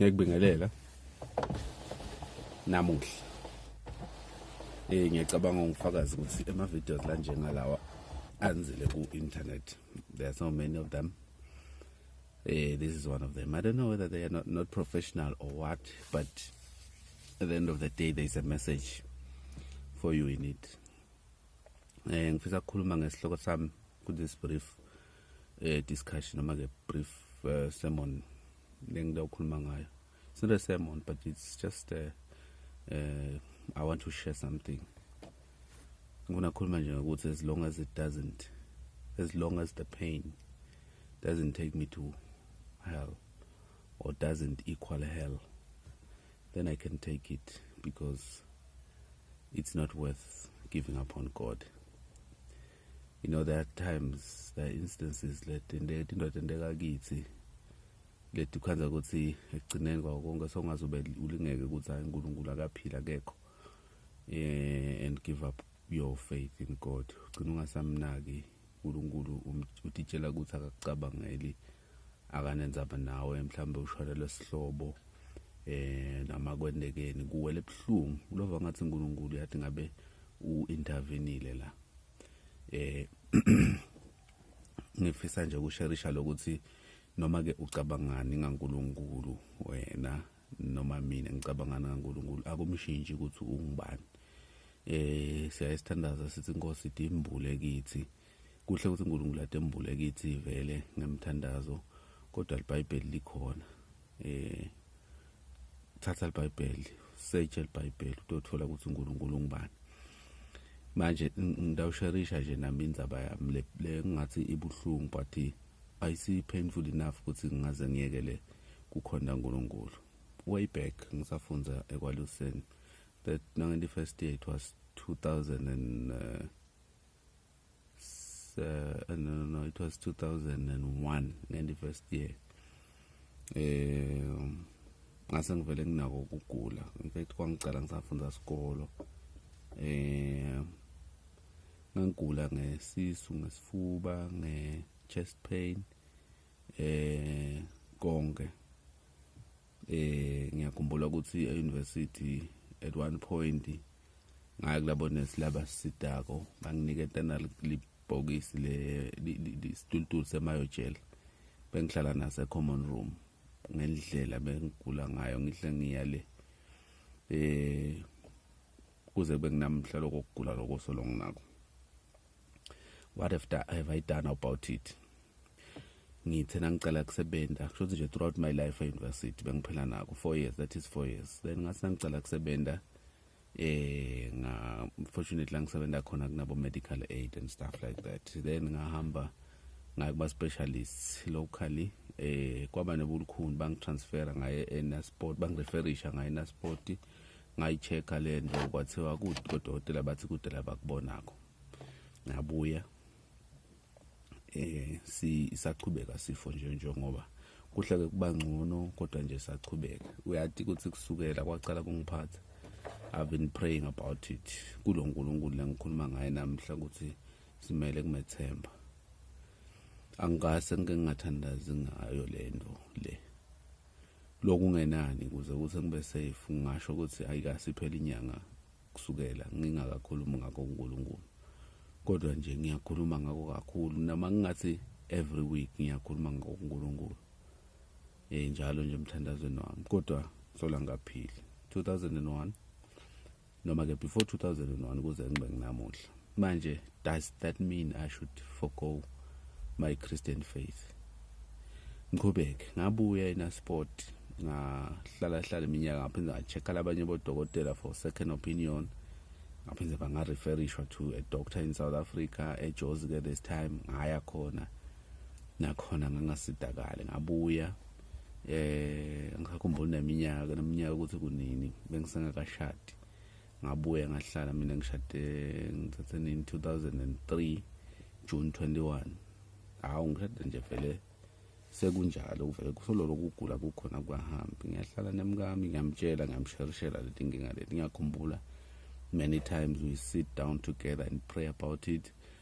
ngiyakubingelela namuhla eh ngiyacabanga ngifakaza ukuthi ema videos la njengalawa anzile ku internet there are so many of them eh this is one of them i don't know whether they are not, not professional or what but at the end of the day there is a message for you in it eh ngifisa ukukhuluma ngesihloko sami ku this brief eh discussion noma ke brief uh, sermon lengida ukhuluma ngayo it's not a sermon but it's just a, uh, uh, eh, i want to share something ngifuna khuluma nje ngokuthi as long as it doesn't as long as the pain doesn't take me to hell or doesn't equal hell then i can take it because it's not worth giving up on god you know there are times there are instances let indoda enteka kithi lethi khanza ukuthi ekugcineni kwawo konke songaze ube ulingeke ukuthi hayi uNkulunkulu akaphili akekho eh and give up your faith in God ugcina ungasamnaki uNkulunkulu um, utitshela ukuthi akakucabangeli akanenzaba nawe mhlawumbe ushona lesihlobo eh noma kwendekeni kuwele ebuhlungu ulova ngathi uNkulunkulu yathi ngabe uintervenile la eh ngifisa nje ukusherisha lokuthi noma ke ucabangani ngaNkulunkulu wena noma mina ngicabangana ngaNkulunkulu akumshintshi ukuthi ungubani eh siyayisithandaza sithi inkosi idimbule kithi kuhle ukuthi uNkulunkulu atembule kithi vele ngemthandazo kodwa libhayibheli likhona eh thatha libhayibheli search libhayibheli utothola ukuthi uNkulunkulu ungubani manje ngidawusharisha nje nami indaba yami le le ngathi ibuhlungu but ayisi painful enough ukuthi ngingaze ngiyekele kukhonda uNkulunkulu way back ngisafunda ekwaluseni that nange first year it was 2000 and uh, uh, no, no, no, it was 2001 ngendi first year eh ngase ngivele nginako ukugula in fact kwangicela ngisafunda sikolo eh ngangigula ngesisu ngesifuba nge chest pain eh konke eh ngiyakhumbula ukuthi e-university at one point ngaya kulabo nesi laba sidako banginike tena libhokisi le isitulutulu semayojela bengihlala nase common room ngendlela bengigula ngayo ngihle ngiya le eh kuze kube kunamhla lokugula lokuso longinako what have, da, have i done about it ngithe nangicela kusebenza kusho ukuthi nje throughout my life e-university bengiphila nako four years that is four years then ngathi nangicela kusebenza eh nga fortunately ngisebenza khona kunabo medical aid and stuff like that then ngahamba ngaye kuba specialist locally eh kwaba nebulukhuni bangitransfera ngaye enasport bangireferisha ngaye enasport ngayichecka le nto kwathiwa kudokotela bathi kudela bakubonayo ngabuya eh si saqhubeka sifo nje njengoba kuhle ke kuba ngcono kodwa nje saqhubeka uyati ukuthi kusukela kwacala kungiphatha i've been praying about it kulo nkulunkulu lengikhuluma ngaye namhla ukuthi simele kumethemba angase ngike ngingathandazi ngayo le nto le lokungenani kuze kuthi ngibe safe ngingasho ukuthi ayikasiphela inyanga kusukela ngingakakhulumi ngakho uNkulunkulu kodwa nje ngiyakhuluma ngakho kakhulu noma ngingathi every week ngiyakhuluma ngakho uNkulunkulu eh njalo nje emthandazweni wami kodwa sola ngaphili 2001 noma ke before 2001 kuze ngibe nginamuhla manje does that mean i should forgo my christian faith ngiqhubeke ngabuya enasport ngahlala hlala iminyaka ngaphinde ngacheck-a labanye bodokotela for second opinion ngaphinde bangareferishwa to a doctor in south africa ejozi ke this time ngaya khona nakhona ngangasidakale ngabuya eh ngisakhumbula neminyaka neminyaka ukuthi kunini bengisengakashadi ngabuye ngahlala mina ngishade ngithathe nini 2003 June 21 hawu ngishade nje vele sekunjalo kuvele kusololo kugula kukhona kwahambi ngiyahlala nemkami ngiyamtshela ngiyamsherishela leti nginga leti ngiyakhumbula many times we sit down together and pray about it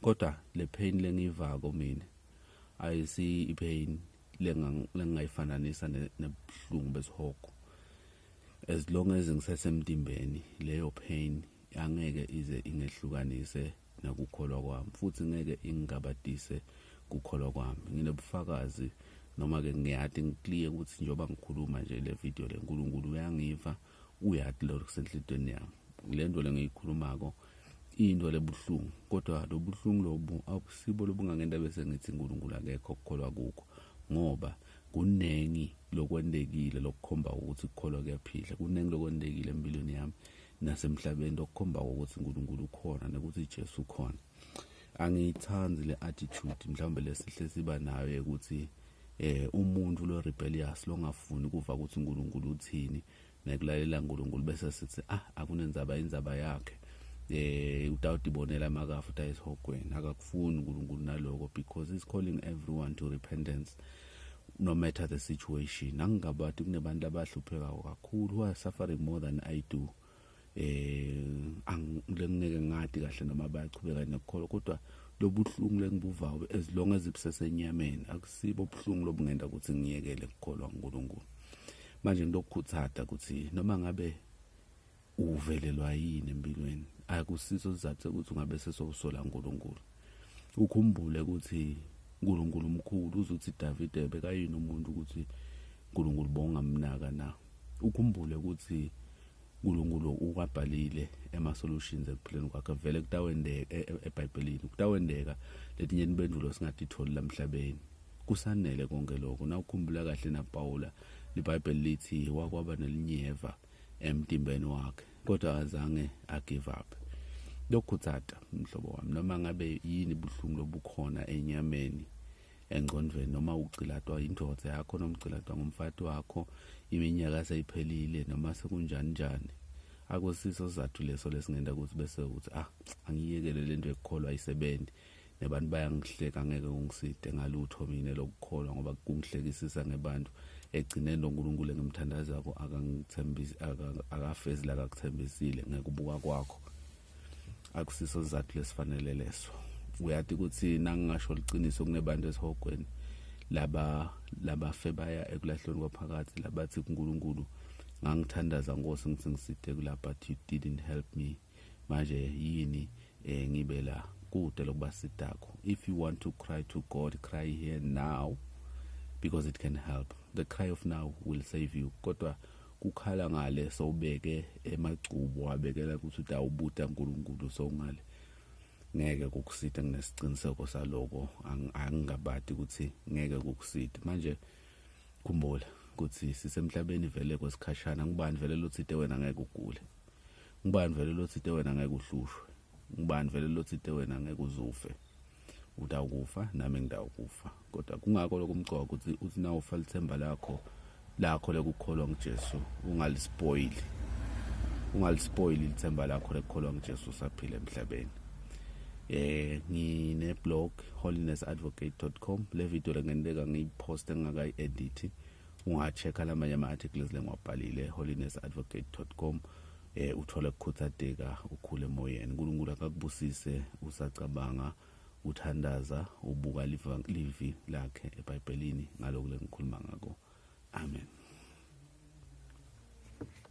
kodwa le pain lengiyivako mina ayisi ipain lengingayifananisa nebuhlungu besihogo as long as ngisesemtimbeni leyo pain angeke ize ingehlukanise nakukholwa kwami futhi ngeke ingabadise kukholwa kwami nginobufakazi noma-ke ngiyade ngikliye ukuthi njengoba ngikhuluma nje le video le nkulunkulu uyangiva uyathi lento kusenhlitweni yami le nto le ngiyikhulumako into lebuhlungu kodwa lobuhlungu lobu akusibo lobungangento bese ngithi uNkulunkulu akekho okukholwa kukho ngoba kuningi lokwentekile lokukhomba ukuthi ukukholwa kuyaphila kuningi lokwentekile empilweni yami nasemhlabeni lokukhomba ukuthi uNkulunkulu ukhona nokuthi Jesu ukhona angiyithandi le attitude mhlawumbe lesihle siba nayo ukuthi eh umuntu lo rebellious longafuni kuva ukuthi uNkulunkulu uthini nekulalela uNkulunkulu bese sithi ah akunenzaba inzaba yakhe eh udawudi bonela amakafa uthi ayisihogweni akakufuni uNkulunkulu naloko because he's calling everyone to repentance no matter the situation angingabathi kunebantu abahluphekayo kakhulu who are suffering more than i do eh angilengeke ngadi kahle noma bayachubeka nokukholwa kodwa lobuhlungu lengibuvayo as long as ibusesenyameni akusibo ubuhlungu lobungenda ukuthi ngiyekele ukukholwa uNkulunkulu manje ngilokukhuthada ukuthi noma ngabe uvelelwa yini empilweni akusiso sizathu ukuthi ungabe sesowusola uNkulunkulu ukhumbule ukuthi uNkulunkulu umkhulu uzothi Davide bekayini umuntu ukuthi uNkulunkulu bongamnaka na ukhumbule ukuthi uNkulunkulu ukwabhalile ema solutions ekuphileni kwakhe vele kutawendeka e, e, eBhayibhelini kutawendeka letinye impendulo singatitholi lamhlabeni kusanele konke lokho na ukhumbula kahle naPawula iBhayibheli lithi wakwaba nelinyeva emtimbeni wakhe kodwa akazange agive up lokhuthata mhlobo wami noma ngabe yini buhlungu lobukhona enyameni engqondweni noma ugcilatwa indoda yakho noma ugcilatwa ngumfati wakho iminyaka seyiphelile noma sekunjani njani akusiso sizathu leso lesingenda ukuthi bese ukuthi ah angiyekele lento ekukholwa isebenzi nebantu bayangihleka ngeke ungiside ngalutho mina lokukholwa ngoba kungihlekisisa ngebantu egcineni lo nkulunkulu engimthandazako akangithembisi akafezi la kakuthembisile ngekubuka kwakho akusiso sizathu lesifanele leso uyati ukuthi nangingasho liqiniso kunebantu esihogweni laba labafe baya ekulahlweni kwaphakathi labathi kuNkulunkulu ngangithandaza nkosi ngithi ngiside kula but you didn't help me manje yini eh ngibe la kude lokuba sidako if you want to cry to god cry here now because it can help the cry of now will save you kodwa kukhala ngale sowubeke emagcubo wabekela ukuthi utawubuta uNkulunkulu sowungale ngeke kukusita nginesiqiniseko saloko angingabadi ukuthi ngeke kukusita manje khumbula ukuthi sisemhlabeni vele kwesikhashana ngubani vele lothide wena ngeke ugule ngubani vele lothite wena ngeke uhlushwe ngubani vele lothite wena ngeke uzufe utawukufa nami ngidawukufa kodwa kungako lokumcoka ukuthi uthi na ufa lithemba lakho lakho lekukholwa nguJesu ungalispoili ungalispoili lithemba lakho lekukholwa nguJesu saphila emhlabeni eh ngine blog holiness advocate.com le video lengenileka ngiyiposte ngingakayi edit ungacheka lamanye ama-articles lengiwabhalile holiness advocate com eh uthole kukhuthateka ukhule emoyeni uNkulunkulu akakubusise usacabanga uthandaza ubuka livi lakhe ebhayibhelini ngalokho lengikhuluma ngako amen